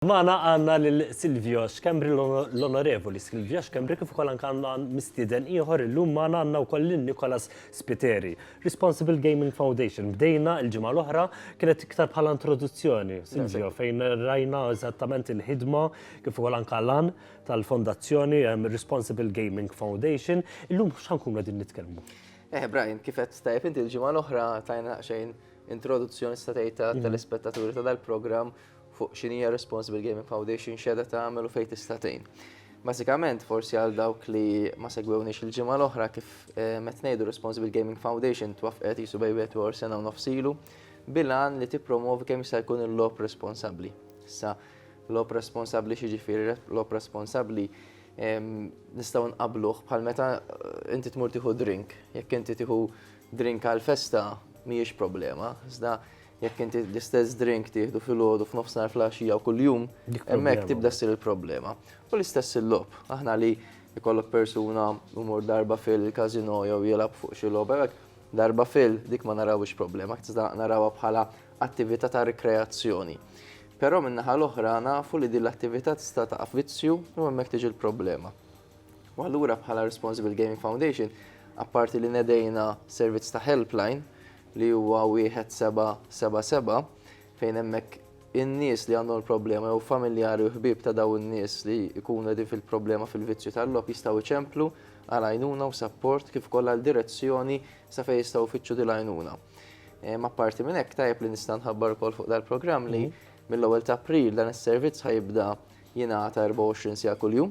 Magħna għandna lil Silvio Schembri, l-Onorevoli Silvio Schembri, kif ukoll anke għandna mistieden ieħor illum magħna għandna wkoll lil Nicholas Spiteri. Responsible Gaming Foundation. Bdejna l-ġimgħa l-oħra kienet iktar bħala introduzzjoni, Silvio, fejn rajna eżattament il-ħidma kif ukoll anke lan tal-fondazzjoni Responsible Gaming Foundation. Illum x'ħankun qegħdin nitkellmu? Eh, Brian, kif qed tajb inti l-ġimgħa l-oħra tajna xejn introduzzjoni statejta tal-ispettaturi ta' dal-programm fuq x'inhi Responsible Gaming Foundation x'qiegħda tagħmel u fejn tista' tgħin. Bażikament, forsi għal dawk li ma segwewniex il-ġimgħa l-oħra kif eh, met ngħidu Responsible Gaming Foundation twaffqet jisu bejbiet u sena u nofsilu bilan li tippromovi kemm jista' jkun il-lob responsabbli. Issa, lob responsabbli xiġifieri lob responsabbli nistgħu nqabluh bħal meta eh, inti tmur tieħu drink. Jekk inti tieħu drink għal festa mhijiex problema, iżda Jekk inti l-istess drink tieħdu filgħodu f'nofsinhar fl-għaxija u kuljum, hemmhekk tibda ssir il-problema. U l-istess il-logħob. Aħna li jkollok persuna jmur darba fil-każino jew jilgħab fuq xi logħba hekk, darba fil dik ma narawhiex problema, iżda narawha bħala attività ta' rikreazzjoni. Però min-naħa l-oħra nafu li din l-attività tista' taqa' f'vizzju u hemmhekk tiġi l-problema. U allura bħala Responsible Gaming Foundation, apparti li nedejna servizz ta' helpline, li huwa 1777, fejn hemmhekk in-nies li għandhom il-problema jew familjari u ħbieb ta' dawn in-nies li jkunu qegħdin fil-problema fil-vizzju tal-logħob jistgħu jċemplu għal għajnuna u sapport kif ukoll għal direzzjoni sa fejn jistgħu jfittxu din l-għajnuna. Ehm, apparti minn hekk tajjeb li nista' nħabbar ukoll fuq dal-programm li mhm. mill-ewwel ta' April dan is-servizz ħajibda jingħata 24 sija kuljum.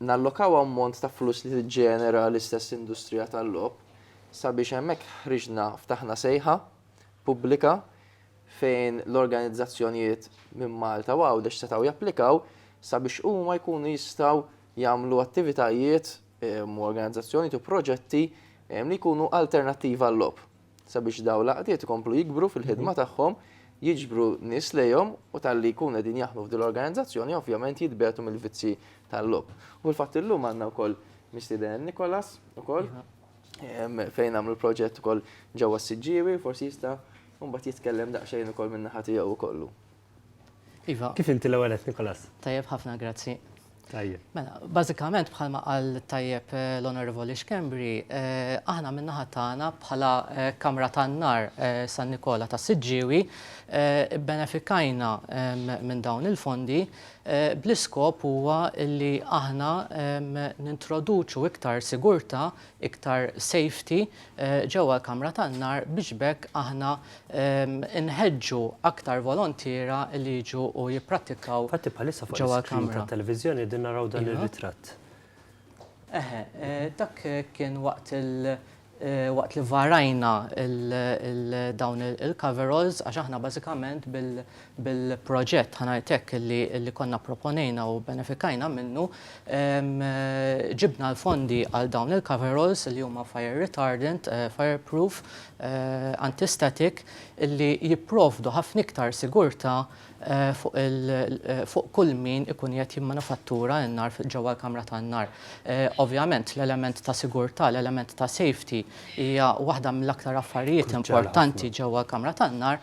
nallokaw ammont ta' flus li tiġġenera l-istess industrija tal-logħob sabiex hemmhekk ħriġna ftaħna sejħa pubblika fejn l-organizzazzjonijiet minn Malta u Għawdex setgħu japplikaw sabiex huma jkunu jistgħu jagħmlu attivitajiet u organizzazzjonijiet u proġetti li jkunu alternattivi għal-logħob. sabiex dawn l-għaqdiet ikomplu jikbru fil-ħidma tagħhom, jiġbru nies lejhom u talli jkunu qegħdin jaħdmu f'din l-organizzazzjoni ovvjament jitbegħdu mill-vizzji tal-logħob. U fil-fatt illum għandna wkoll mistieden Nikolas ukoll fejn għamlu proġett ukoll ġewwa s-Siġġiewi, forsi jista' mbagħad jitkellem daqsxejn ukoll min-naħa tiegħu kollu. Iva. Kif inti l-ewwel qed Nikolas? Tajjeb ħafna, grazzi. Tajjeb. Mela, bażikament bħalma qal tajjeb eh, l-Onorevoli Xkembri, eh, aħna min-naħa tagħna bħala eh, Kamra tan-Nar San Nikola ta' Siġġiewi benefikajna minn dawn il-fondi bl-iskop huwa li aħna nintroduċu iktar sigurta iktar safety ġewwa l-kamra tan-nar biex b'hekk aħna nħeġġu aktar volontiera li jiġu u jipprattikaw ġewwa l-kamra. Infatti bħalissa fuq l-iskrin tat-televiżjoni qegħdin naraw dan ir-ritratt. Eħe, dak kien waqt waqt li varajna dawn il-coveralls għax aħna bażikament Bil-proġett, ħa ngħid hekk, li konna pproponejna u bbenefikajna minnu, ġibna l-fondi għal dawn il-coveralls li huma fire retardant, fire proof, anti static, li jipprovdu ħafna iktar sigurtà fuq kull min ikun qiegħed jimmanifattura n-nar ġewwa l-kamra tan-nar. Ovvjament, l-element ta' sigurtà, l-element ta' safety hija waħda mill-aktar affarijiet importanti ġewwa l-kamra tan-nar,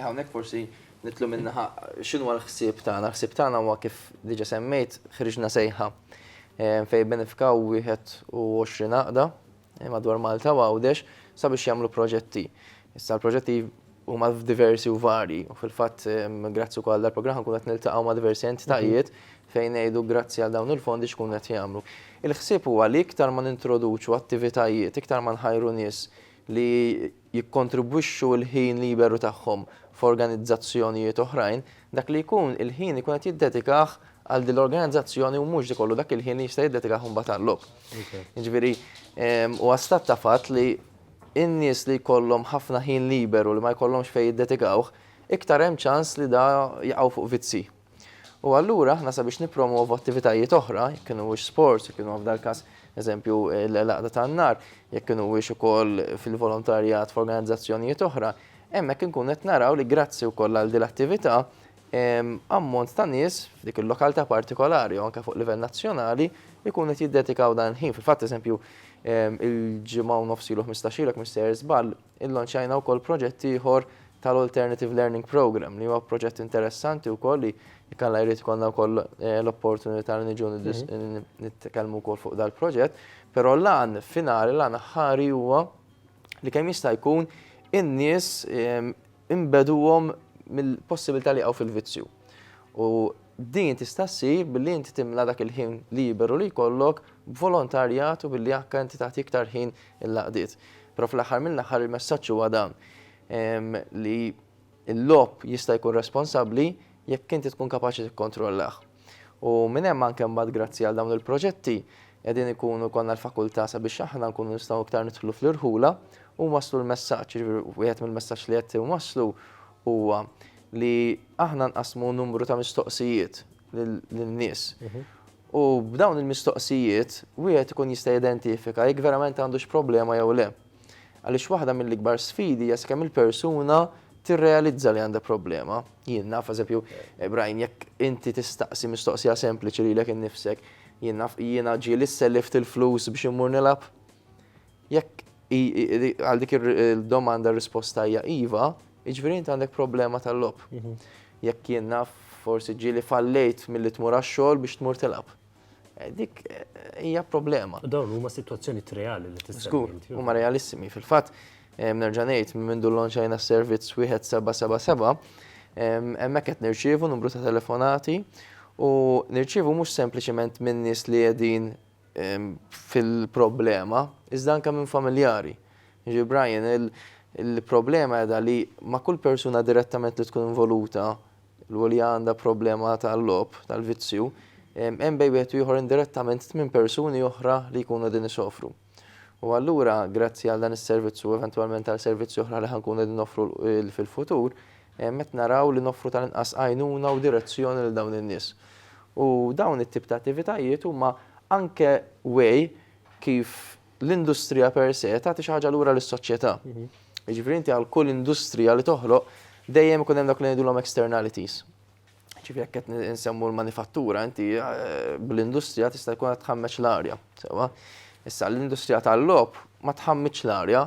Hawnhekk forsi nitlu minnaħa x'inhu l-ħsieb tagħna. L-ħsieb tagħna huwa kif diġa semmejt ħriġna sejħa ehm, fej benefikaw 21 għaqda eh, madwar Malta u Għawdex sabiex jagħmlu proġetti. Issa l-proġetti huma diversi u vari u fil-fatt ehm, grazzi wkoll dal-programm nkun qed niltaqgħu ma' diversi entitajiet mhm. fejn ngħidu grazzi għal dawn il-fondi xkun qed jagħmlu. Il-ħsieb huwa li iktar ma nintroduċu attivitajiet, iktar ma nħajru nies li jikkontribwixxu l-ħin liberu tagħhom f'organizzazzjonijiet oħrajn, dak li jkun il-ħin ikun qed jiddedikah għal din l-organizzazzjoni u mhux ikollu dak il-ħin li jista' jiddedikah imbagħad għall-logħob. Jiġifieri huwa stat ta' fatt li n-nies li jkollhom ħafna ħin liberu li ma jkollhomx fejn jiddedikawh, iktar hemm ċans li da jaqgħu fuq vizzji. U allura aħna sabiex nippromovu attivitajiet oħra, jekk kienu wiex sports, jekk kienu f'dal każ eżempju l-laqda tan-nar, jekk kienu wiex ukoll fil-volontarjat f'organizzazzjonijiet oħra, hemmhekk inkun qed naraw li grazzi wkoll għal dil attività ammont ta' nies f'dik il-lokaltà partikolari u anke fuq livell nazzjonali jkun qed jiddedikaw dan il-ħin. Fil-fatt eżempju il-ġimgħa u nofs ilu ħmistax ilu jekk mhux sejjer żball, Illanċjajna wkoll proġett ieħor tal-Alternative Learning Programme li huwa proġett interessanti wkoll li jekk Alla jrid ikollna wkoll l-opportunità li niġu nitkellmu wkoll fuq dal-proġett, però l-għan finali, l-għan aħħari huwa li kemm jista' jkun in-nies inbeduhom mill-possibilità li jaqgħu fil-vizzju. U Din tista' ssir billi inti timla dak il-ħin liberu li jkollok b'volontarjat u billi anke inti tagħti iktar ħin il-laqdiet. Però fl-aħħar mill-aħħar il-messaġġ huwa dan, li l-logħob jista' jkun responsabbli jekk inti tkun kapaċi tikkontrollah. U minn hemm anke mbagħad grazzi għal dawn il-proġetti qegħdin ikunu jkollna l-fakultà sabiex aħna nkunu nistgħu iktar nidħlu fl-irħula u nwasslu l-messaġġ. Jiġifieri wieħed mill-messaġġ li qed inwasslu huwa li aħna nqassmu numru ta' mistoqsijiet lin-nies. U b'dawn il-mistoqsijiet, wieħed ikun jista' jidentifika jekk verament għandux problema jew le. Għaliex waħda mill-ikbar sfidi hija sakemm il-persuna tirrealizza li għandha problema. Jien naf, eżempju, eh, Brian, jekk inti tistaqsi mistoqsija sempliċi lilek innifsek, jien naf jiena ġieli sellift il-flus biex immur nilgħab. Jekk għal dik il-domanda risposta hija iva, jiġifieri inti għandek problema tal-logħob. Mhm. Jekk jien naf forsi ġieli fallejt milli tmur għax-xogħol biex tmur tilgħab. Eh, dik eh, hija problema. Dawn huma sitwazzjoni reali li tista' Skur, huma realissimi. Fil-fatt, eh, nerġa' ngħid minn mindu l-lonċajna servizz wieħed 777, hemmhekk qed nirċievu numru ta' telefonati u nirċievu mhux sempliċement minn nies li qegħdin fil-problema, iżda anke minn familjari. Jiġifieri Brian, il-problema qiegħda li ma' kull persuna direttament li tkun involuta u li għandha problema tal-logħob, tal-vizzju, hemm bejn wieħed u ieħor indirettament tmien persuni oħra li jkunu qegħdin isofru. U allura, grazzi għal dan is-servizz u eventwalment għal servizzi oħra li ħa nkunu qegħdin noffru fil-futur, Qed naraw li noffru tal-inqas għajnuna u direzzjoni lil dawn in-nies. U dawn it-tip ta' attivitajiet huma anke way kif l-industrija per se tagħti xi ħaġa lura lis-soċjetà. Jiġifieri inti għal kull industrija li toħloq dejjem ikun hemm dak li ngħidulhom externalities. Jiġifieri jekk qed insemmu l-manifattura inti bl-industrija tista' jkun qed tħammeġ l-arja, sewwa. Issa l-industrija tal-logħob ma tħammiġx l-arja,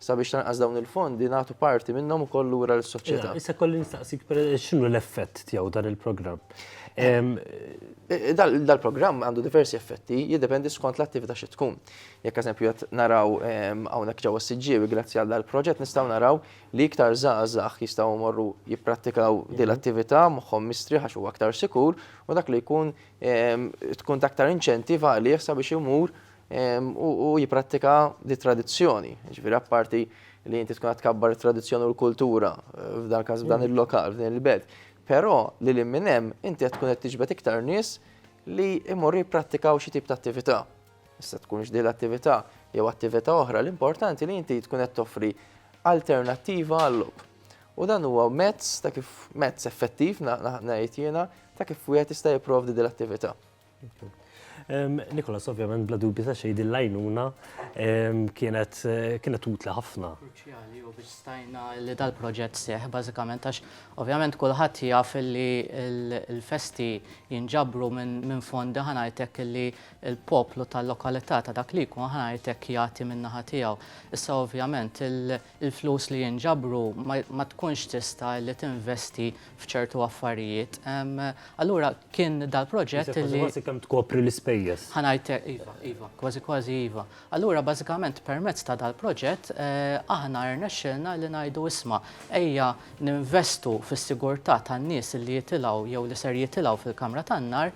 Sabiex tanqas dawn il-fondi nagħtu parti minnhom ukoll lura lis-soċjetà. Issa kolli nistaqsik x'inhu l-effett tiegħu dan il-programm? Dal-programm għandu diversi effetti, jiddependi skont l-attività xi tkun. Jekk eżempju qed naraw hawnhekk ġewwa s-Siġġiewi grazzi għal dal-proġett nistgħu naraw li iktar żgħażagħ jistgħu jmorru jipprattikaw din l-attività moħħhom mistrieħ għax huwa aktar sikur u dak li jkun tkun ta' aktar inċentiv għalih sabiex imur u jipprattika dit-tradizzjoni. Jiġifieri apparti li inti tkun qed tkabbar it-tradizzjoni u l-kultura, f'dan il-każ f'dan il-lokal, f'din il-belt, però li lil minn hemm inti qed tkun qed tiġbed iktar nies li jmorru jipprattikaw xi tip ta' attività. Tista' tkunx din l-attività jew attività oħra, l-importanti li inti tkun qed toffri alternattiva għal-logħob. U dan huwa mezz ta' kif, mezz effettiv ngħid jiena, ta' kif wieħed jista' jipprovdi din l-attività. Nikolas, ovvjament, bla dubju ta' xejn din l-għajnuna kienet utli ħafna. Kruċjali u biex stajna li dal-proġett seħ, bażikament, għax ovvjament kulħadd jaf li l-festi jinġabru minn fondi ħa ngħid hekk li l-poplu tal-lokalità ta' dak li jkun ħa ngħid hekk jagħti min-naħa tiegħu. Issa ovvjament il-flus li jinġabru ma tkunx tista' li tinvesti f'ċertu affarijiet. Allura kien dal-proġett li. Kważi kemm tkopri l-ispejjeż. Ħa ngħidlek, iva, iva, kważi kważi iva. Allura bażikament permezz ta' dal-proġett aħna rnexxielna li ngħidu isma' ejja ninvestu fis-sigurtà tan-nies li jitilgħu jew li ser jitilgħu fil-kamra tan-nar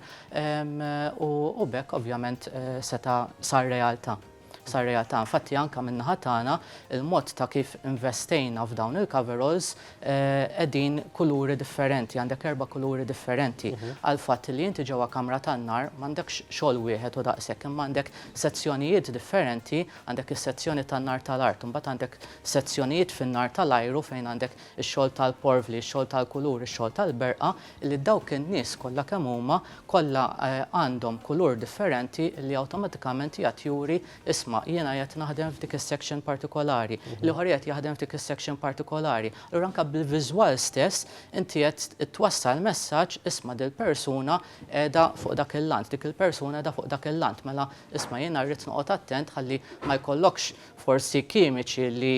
u b'hekk ovvjament seta' sar realtà. sar realtà. Infatti anke min-naħa tagħna il-mod ta' kif investejna f'dawn il-coveralls qegħdin kuluri differenti, għandek erba' kuluri differenti għall-fatt li inti ġewwa kamra tan-nar m'għandekx xogħol wieħed u daqshekk imma għandek sezzjonijiet differenti, għandek is-sezzjoni tan-nar tal-art, imbagħad għandek sezzjonijiet fin-nar tal-ajru fejn għandek ix-xogħol tal-porvli, ix-xogħol tal-kulur, ix-xogħol tal-berqa, li dawk in-nies kollha kemm huma kollha għandhom kulur differenti li awtomatikament qiegħed juri isma' jiena qiegħed naħdem f'dik is-section partikolari, l-ieħor qiegħed jaħdem f'dik is-section partikolari. Allura anke bil-viżwal stess inti qed twassal messaġġ isma' dil-persuna qiegħda fuq dak il-lant, dik il-persuna qiegħda fuq dak il-lant, mela isma' jiena rrid noqgħod attent ħalli ma jkollokx forsi kimiċi li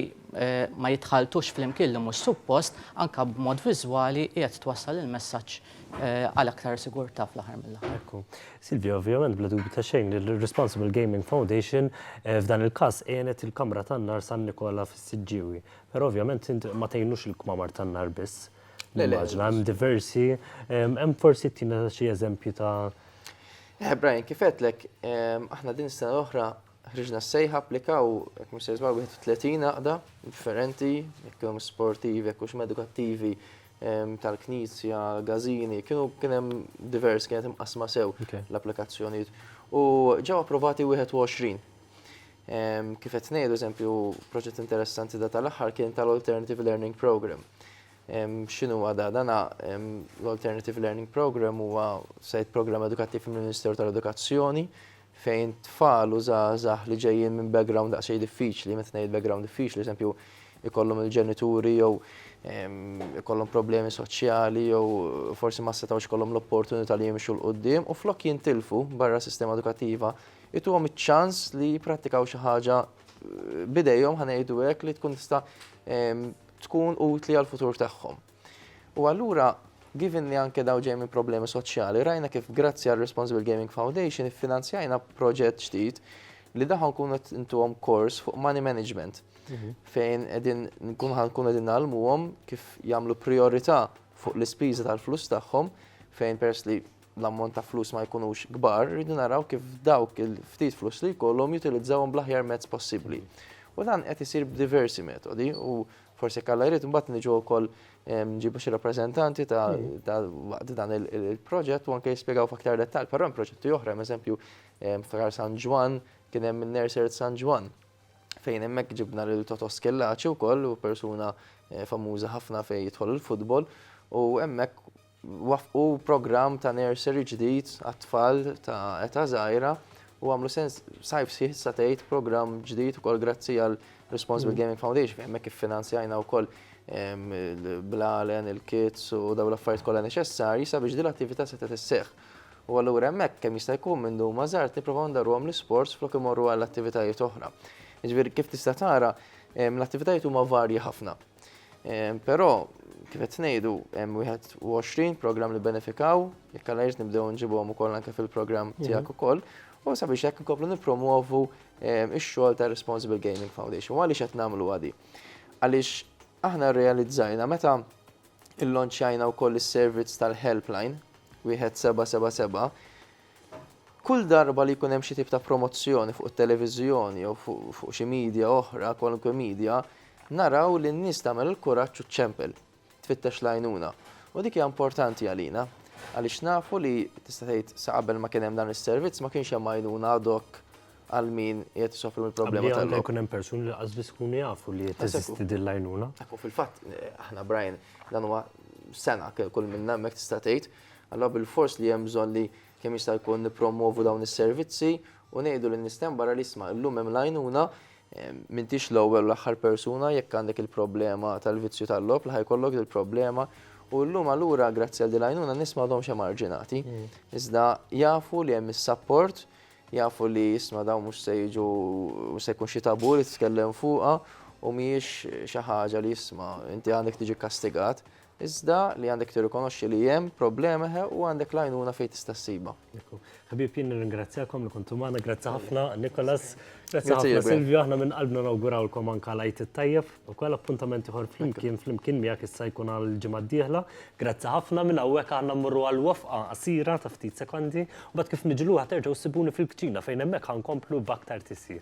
ma jitħalltux flimkien li mhux suppost, anke b'mod viżwali qiegħed twassal il-messaġġ għal aktar sigurtà fl-aħħar mill-aħħar. Ekku. Silvia, ovvjament bla dubju ta' xejn li l-Responsible Gaming Foundation f'dan il-każ għenet il-Kamra tan-Nar San Nikola fis-Siġġiewi. Però ovvjament int ma tgħinux il-kmamar tan-nar biss. Le, le. Nimmaġina hemm diversi. Hemm forsi ttina xi eżempji ta'. Brian, kif għedtlek, aħna din is-sena l-oħra Ħriġna s-sejħa, applikaw, jekk mhux se żball, 31 għaqda differenti, jekk kienu sportivi, jekk hux edukattivi, ehm, tal-knisja, gazini, kienu kien hemm divers, kienet imqasma sew l-applikazzjonijiet. U ġew approvati 21. Ehm, kif qed ngħidu, eżempju, proġett interessanti da tal-aħħar kien tal-Alternative Learning Program. Ehm, x'inhu għada dana l-Alternative Learning Program huwa sajt programm edukattiv mill-Ministeru tal-Edukazzjoni fejn tfal u żgħażagħ li ġejjin minn background daqsxejn diffiċli, meta ngħid background diffiċli, eżempju jkollhom il-ġenituri jew ikollhom problemi soċjali jew forsi ma setgħux ikollhom l-opportunità li jimxu 'l quddiem u flok jintilfu barra s-sistema edukattiva, ituhom iċ-ċans li jipprattikaw xi ħaġa b'idejhom ħa ngħidu hekk li tkun tista' tkun utli għall-futur tagħhom. U allura, given li anke dawn ġejjin minn problemi soċjali, rajna kif grazzi għal Responsible Gaming Foundation iffinanzjajna proġett ġdid li daħħa nkunu qed intuhom kors fuq money management mhm. fejn qegħdin nkunu ħankunu qegħdin nagħlmuhom kif jagħmlu priorità fuq l-ispiża tal-flus tagħhom fejn pers li l-ammont ta' flus ma jkunux kbar, rridu naraw kif dawk il-ftit flus li jkollhom jutilizzawhom bl-aħjar mezz possibbli. U dan qed isir b'diversi metodi u Forsi jekk Alla jrid imbagħad niġu wkoll nġibu xi rappreżentanti ta' waqt dan il-proġett u anke jispjegaw f'aktar dettall, però hemm proġetti oħra, eżempju ftakar San Ġwann kien hemm in-Nursery San Ġwann fejn hemmhekk ġibna lil Toto Schillaci wkoll u persuna famuża ħafna fejn jidħol il-futbol u hemmhekk waffqu programm ta' nursery ġdid għat-tfal ta' età żgħira u għamlu sens sajf sħiħ tista' tgħid programm ġdid ukoll grazzi għal Responsible mm. Gaming Foundation fejn hemmhekk iffinanzjajna wkoll il-blalen, il-kits u daw l-affarijiet kollha neċessarji sabiex din l-attività setgħet isseħħ. U allura hemmhekk kemm jista' jkun minn dum mażart nipprovaw ndarruhom l-isports flok imorru għall attivitajiet oħra. Jiġifieri kif tista' tara l-attivitajiet huma varji ħafna. Però, kif qed ngħidu, hemm 21 programm li benefikaw, jekk għal irrid nibdew nġibhom ukoll anke fil-programm mhm. tiegħek ukoll, u sabiex hekk inkomplu nippromuovu ix-xogħol ta' Responsible Gaming Foundation. Għaliex qed nagħmlu għadi? Għaliex aħna rrealizzajna meta il-lonċajna u koll il-servizz tal-helpline, wieħed 777, Kull darba li jkun hemm xi tip ta' promozzjoni fuq it-televiżjoni jew fuq xi midja oħra, kwalunkwe midja, naraw li n-nies tagħmel il-kuraġġ u ċċempel, tfittex l-għajnuna. U dik hija importanti għalina, għaliex nafu li, tista' tgħid, sa qabel ma kien hemm dan is-servizz ma kienx hemm għajnuna ad hoc għal min qiegħed isofri mill-problema tal-logħob. Qabel ma jkun hemm persuni li lanqas biss ikunu jafu li qed teżisti din l-għajnuna. Fil-fatt, aħna Brian, dan huwa sena kull minna hemmhekk tista' tgħid, Allura bilfors li hemm bżonn li kemm jista' jkun nippromwovu dawn is-servizzi u ngħidu lin-nies t'hemm barra li isma' illum hemm l-għajnuna, m'intix l-ewwel u l-aħħar persuna jekk għandek il-problema tal-vizzju tal-logħob li ħa jkollok dil-problema u llum allura grazzi għal din l-għajnuna n-nies m'għadhomx emarġinati. Iżda jafu li hemm is-sapport, jafu li isma' dawn mhux se jiġu mhux se jkun xi tabù li titkellem fuqha u mhijiex xi ħaġa li isma' inti għandek tiġi kkastigat, Iżda li għandek tirrikonoxxi li hemm problema eħe u għandek l-għajnuna fejn tista' ssibha. Ekku. Ħbieb jien nirringrazzjakom li kontu magħna, grazzi ħafna Nicholas, grazzi ħafna Silvio, aħna minn qalbna nawgurawlkom anke l-Għid it-Tajjeb, ukoll appuntament ieħor flimkien flimkien miegħek issa jkun għall-ġimgħa d-dieħla. Grazzi ħafna minn hawnhekk aħna mmorru għal wafqa qasira ta' ftit sekondi, u mbagħad kif niġu lura terġgħu ssibuni fil-kċina fejn hemmhekk ħa nkomplu b'aktar tisjir.